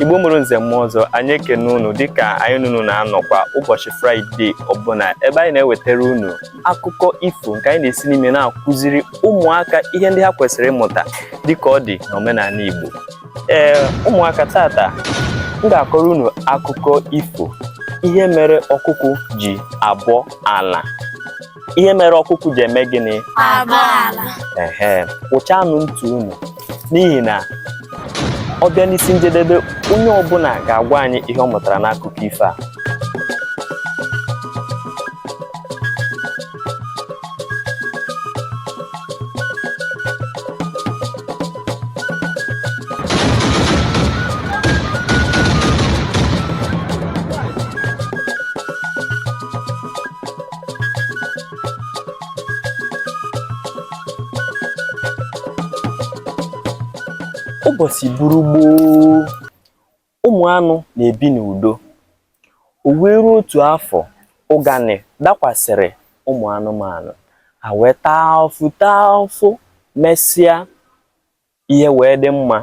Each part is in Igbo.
igbo mụrụ nze mụọ ọzọ anyị ekene unu dịka anyị na unu na-anọkwa ụbọchị fraịde ọbụla ebe anyị na-ewetara unu akụkọ ifo nke anyị na-esi n'ime na-akụziri ụmụaka ihe ndị ha kwesịrị ịmụta dịka ọ dị n'omenala igbo ee ụmụaka taata m ga-akọrọ unu akụkọ ifo ihe mere ọkụkụ ji abọ ala ihe mere ọkụkụ ji eme gịnị ehe kwụchanụ ntị unu n'ihi na ọ bịa n'isi njedebe onye ọbụla ga-agwa anyị ihe ọ mụtara n'akụkọ ifo a ụbọchị buru gboo ụmụ anụ na-ebi n'udo o wee ruo otu afọ ụganị dakwasịrị ụmụ anụmanụ ha wee taa afụfụ taa afụfụ mesịa Ihe wee dị mma,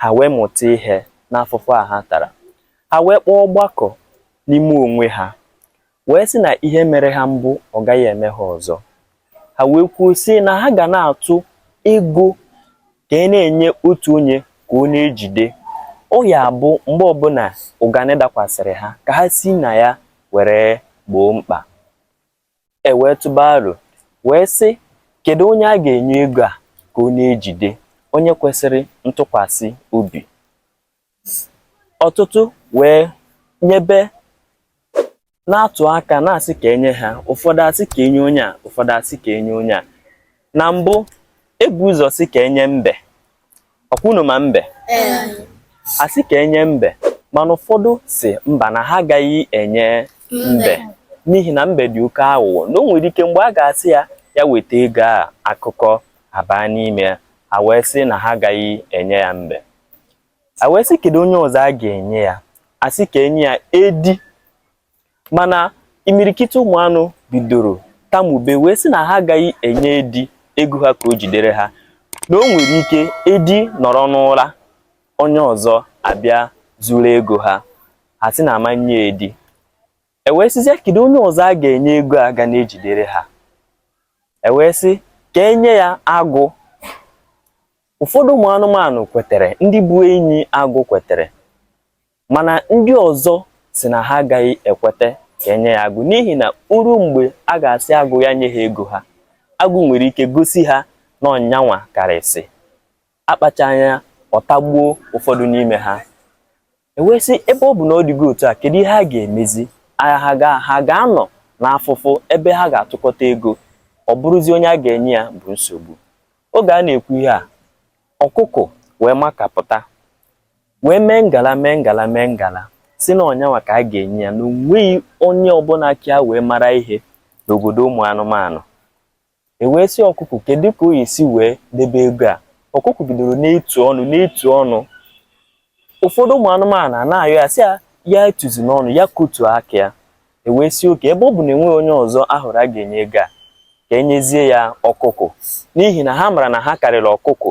ha wee mụta ihe n'afụfụ a ha tara. Ha wee kpọọ ọgbakọ n'ime onwe ha, wee sị na ihe mere ha mbụ ọ gaghị eme ha ọzọ. Ha wee kwuo sị na ha ga na-atụ ego ka e na-enye otu onye ka ọ na-ejide. Ọ ya-abụ mgbe ọbụla ụganị dakwasịrị ha, ka ha si na ya were gboo mkpa. E wee tụba aro wee sị, Kedụ onye a ga-enye ego a ka ọ na-ejide, onye kwesịrị ntụkwasị obi? Ọtụtụ wee nyebe na-atụ aka na-asị ka e nye ha ụfọdụ asị ka e nye onye a ụfọdụ asị ka e nye onye a na mbụ e bu ụzọ sị ka e nye mbe ọ kwa unu ma mbe a sị ka e nye mbe mana ụfọdụ sị mba na ha agaghị enye mbe n'ihi na mbe dị oke aghụghọ na o nwere ike mgbe a ga-asị ya ya weta ego a akụkọ abaa n'ime ya a wee sị na ha agaghị enye ya mbe a wee sị kedu onye ọzọ a ga-enye ya a sị ka e nye ya edi mana imirikiti ụmụ anụ bidoro tamube wee sị na ha agaghị enye edi ego ha ka o jidere ha na o nwere ike edi nọrọ n'ụra onye ọzọ abịa zuru ego ha ha sị na a ma nye edi e wee sịzie kedu onye ọzọ a ga-enye ego a ga na-ejidere ha e wee sị ka e nye ya agụ ụfọdụ ụmụ anụmanụ kwetere ndị bụ enyi agụ kwetere mana ndị ọzọ sị na ha agaghị ekweta ka e nye ya agụ n'ihi na o ruo mgbe a ga-asị agụ ya nye ha ego ha agụ nwere ike gosi ha na ọ yanwa karịsị akpacha anya ọ tagbuo ụfọdụ n'ime ha e wee sị ebe ọ bụ na ọ dịgo otu a kedu ihe a ga-emezi ha ga-anọ n'afụfụ ebe ha ga-atụkọta ego ọ bụrụzi onye a ga-enye ya bụ nsogbu oge a na-ekwu ihe a ọkụkụ wee makapụta wee mee ngala mee ngala mee ngala sị na ọ yanwa ka a ga-enye ya na o nweghị onye ọbụla ka ya wee mara ihe n'obodo ụmụ anụmanụ e wee sị ọkụkụ kedu ka o esi wee debe ego a ọkụkụ bidoro na-etu ọnụ na-etu ọnụ ụfọdụ ụmụ anụmanụ a na-ayọ ya sị ya ya etuzina ọnụ ya kotu aka ya e wee sị okay ebe ọ bụ na e nweghị onye ọzọ a hụrụ a ga-enye ego a ka e nyezie ya ọkụkụ n'ihi na ha mara na ha karịrị ọkụkụ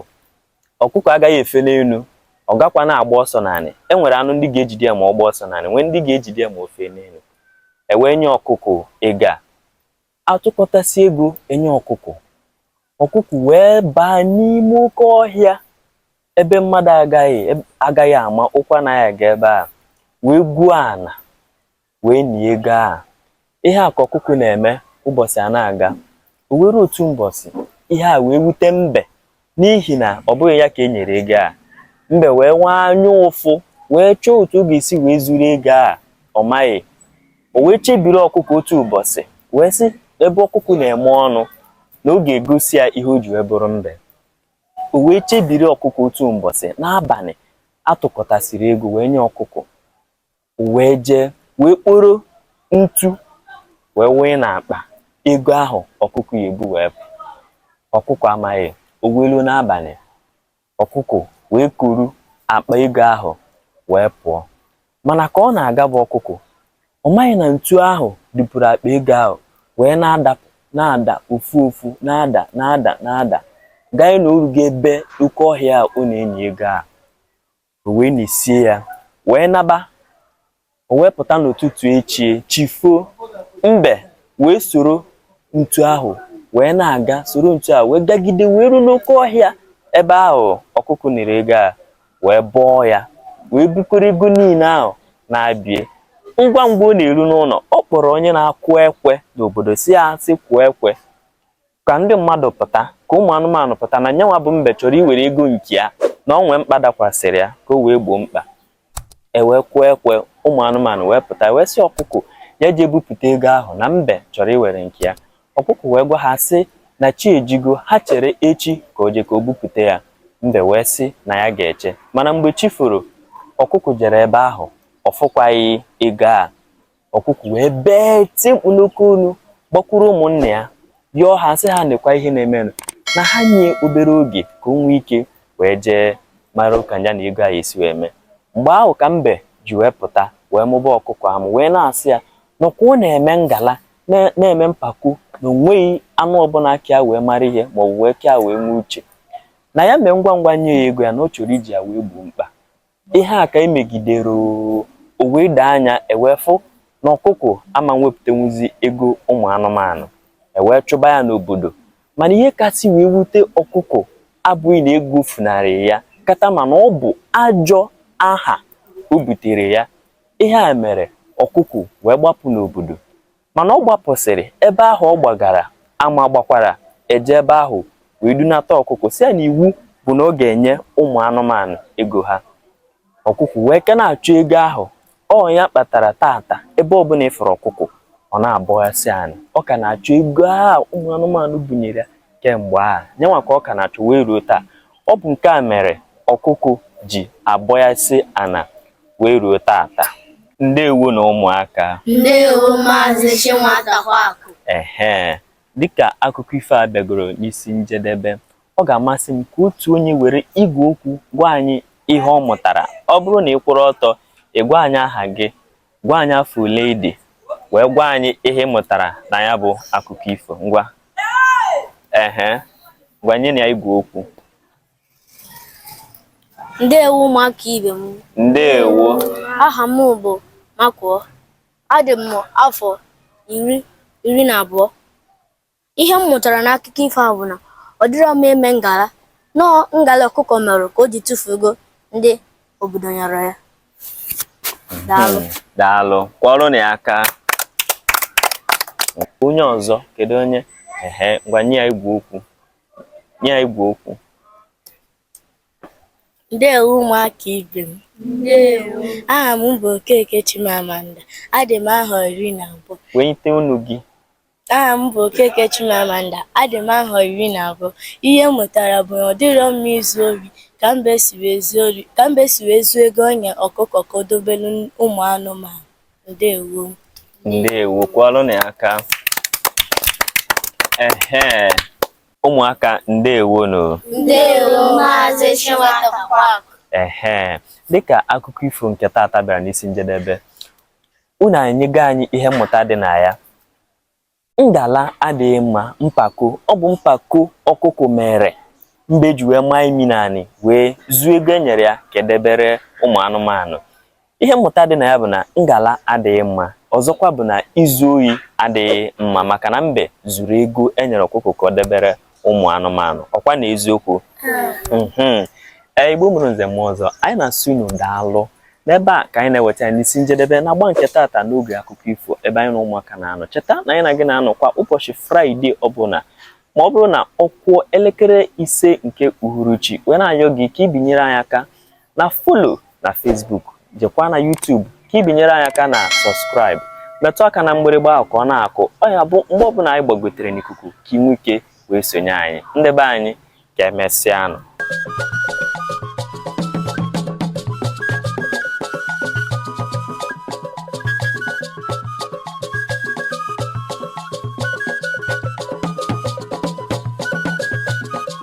ọkụkụ agaghị efe n'enu ọ gakwa na-agba ọsọ n'anị e nwere anụ ndị ga-ejide ya ma ọ gbaa ọsọ n'anị nwee ndị ga-ejide ya ma o fee n'enu e wee nye ọkụkụ ego a a tụkọtasị ego e nye ọkụkụ ọkụkụ wee baa n'ime oke ọhịa ebe mmadụ agaghị ama ụkwụ anaghị aga ebe a wee gwuo ana wee nie ego ahụ. Ihe a ka ọkụkụ na-eme ụbọchị a na-aga. O wee ruo otu ụbọchị, ihe a wee wute mbe n'ihi na ọ bụghị ya ka e nyere ego a. Mbe wee nwee anya ụfụ wee chọọ otu ọ ga-esi wee zuru ego a ọ maghị. O wee chebiri ọkụkụ otu ụbọchị wee sị ebe ọkụkụ na-eme ọnụ na ọ ga-egosi ya ihe o ji wee bụrụ mbe. O wee chebiri ọkụkụ otu ụbọchị n'abalị a tụkọtasịrị ego wee nye ọkụkụ. wee jee wee kporo ntu wee wụnye n'akpa ego ahụ ọkụkụ ya-ebu wee pụ ọkụkụ amaghị o wee ruo n'abalị ọkụkụ wee kuru akpa ego ahụ wee pụọ mana ka ọ na-aga bụ ọkụkụ ọ maghị na ntu ahụ dupuru akpa ego ahụ wee na-ada na-ada ofu ofu na-ada na-ada na-ada ganye na o rugo ebe oke ọhịa a ọ na-eni ego ahụ O wee nisie ya, wee naba. O wee pụta n'ụtụtụ echi, chi foo, mbe wee soro ntu ahụ wee na-aga, soro ntu ahụ wee gagide wee ruo n'oke ọhịa ebe ahụ ọkụkụ niri ego a wee bọọ ya, wee bukọrọ ego niile ahụ nabie. Ngwa ngwa ọ na-eru n'ụlọ, ọ kpọrọ onye na-akụ ekwe n'obodo sị ya sị kụọ ekwe. Ka ndị mmadụ pụta, ka ụmụ anụmanụ pụta na nyanwa bụ mbe chọrọ iwere ego nke ya na ọ nwee mkpa dakwasịrị ya ka o wee gboo mkpa. E wee kụọ ekwe, ụmụ anụmanụ wee pụta, e wee sị ọkụkụ ya jee bupụta ego ahụ na mbe chọrọ iwere nke ya. Ọkụkụ wee gwa ha sị na chi ejigo, ha chere echi ka o jee ka o bupụta ya. Mbe wee sị na ya ga-eche. Mana mgbe chi foro, ọkụkụ jere ebe ahụ, ọ fụkwaghị ego a. ọkụkụ wee bee tie mkpu n'oke olu gbakwuru ụmụnna ya yọọ ha sị ha nekwa ihe na-emenụ na ha nye obere oge ka o nwee ike wee jee mara ka ya na ego a esi wee mee mgbe ahụ ka mbe ji wee pụta wee mụba ọkụkụ amụ wee na-asị ya na ọ ka na-eme ngala na-eme mpako na onweghị anụ ọbụla ka ya wee mara ihe ma ọ bụ wee ka ya wee nwee uche na ya mee ngwa ngwa nye ya ego ya na ọ chọrọ iji ya wee gboo mkpa Ihe a ka e megidere oo, o wee doo anya e wee fụ na ọkụkụ ama nwepụtanwuzi ego ụmụ anụmanụ e wee chụba ya n'obodo mana ihe kasị wee wute ọkụkụ abụghị na ego funarị ya kata mana ọ bụ ajọ aha o butere ya ihe a mere ọkụkụ wee gbapụ n'obodo Mana ọ gbapụsịrị ebe ahụ ọ gbagara ama gbakwara e jee ebe ahụ wee dunata ọkụkụ sị ya na iwu bụ na ọ ga-enye ụmụ anụmanụ ego ha ọkụkụ wee ka na-achụ ego ahụ ọ ya kpatara tata ebe ọbụla ị fụrụ ọkụkụ ọ na-abọghasị ana ọ ka na-achụ ego ahụ ụmụ anụmanụ bunyere ya kemgbe ahụ nyanwa ka ọ ka na-achụ wee ruo taa ọ bụ nke a mere ọkụkụ ji abọghasị ana wee ruo tata ndewonụ ụmụaka ndewo maazị Chinwatakwakụ ehe dịka akụkọ ifo a bịagoro n'isi njedebe ọ ga-amasị m ka otu onye were igwe okwu gwa anyị ihe ọ mụtara ọ bụrụ na ị kwụrụ ọtọ ị gwa anyị aha gị gwa anyị afọ ole ị dị wee gwa anyị ihe ị mụtara na ya bụ akụkọ ifo ngwa ehe ngwa nyenụ ya igwe okwu Ndewo ụmụaka ibe m. Ndewo. Aha m bụ Makuo. Adị m afọ iri iri na abụọ. Ihe m mụtara n'akụkọ ifo a bụ na ọ dịrọ mma ime ngala na ọ ngala ọkụkọ mere ka o ji tufuo ego ndị obodo nyere ya. Daalụ. Hmm, daalụ. Kụọrọnụ ya aka. Onye ọzọ kedu onye? Ehe, ngwa nye ya igwe okwu. nye ya igwe okwu ndewo ụmụaka ibe m aha m bụ okeke chimamanda adị m ahọ iri na abụọ wenyite onu gị aha m bụ okeke chimamanda adị m ahọ iri na abụọ ihe m mụtara bụ na ọ dịrọ mma izu ori ka mbe si wee zuo ego e nyere ọkụkọ ka o dobelu ụmụ anụmanụ ndewo ndewo kụalụnụ aka ehe ụmụaka ndewo nụ ndewo maazị Chinwata Park ehe dịka akụkọ ifo nke taata bịara n'isi njedebe unu anyego anyị ihe mmụta dị na ya Ngala adịghị mma, mpako. Ọ bụ mpako ọkụkụ mere mbe ji wee maa imi n'anị wee zuo ego e nyere ya ka e debere ụmụ anụmanụ. Ihe mmụta dị na ya bụ na ngala adịghị mma. Ọzọkwa bụ na izu ohi adịghị mma maka na mbe zuru ego e nyere ọkụkụ ka o debere ụmụ anụmanụ ọkwa na eziokwu mhm. ee igbo mụrụ nze mụọ ọzọ anyị na-asị unu daalụ n'ebe a ka anyị na-eweta n'isi njedebe n'agba nke taata n'oge akụkọ ifo ebe anyị na ụmụaka na-anọ cheta na anyị na gị na-anọkwa ụbọchị fraịde ọbụla ma ọ bụrụ na ọ kụọ elekere ise nke uhuruchi wee na-ayọ gị ka i binyere anyị aka na folo na Facebook jekwa na YouTube ka i binyere anyị aka na sọskraịbụ metụ aka na mgbịrịgba ahụ ka ọ na-akụ ọ ya-abụ mgbe ọbụla anyị gbagotere n'ikuku ka i nwee ike wee sonye anyị ndị be anyị ka emesịanụ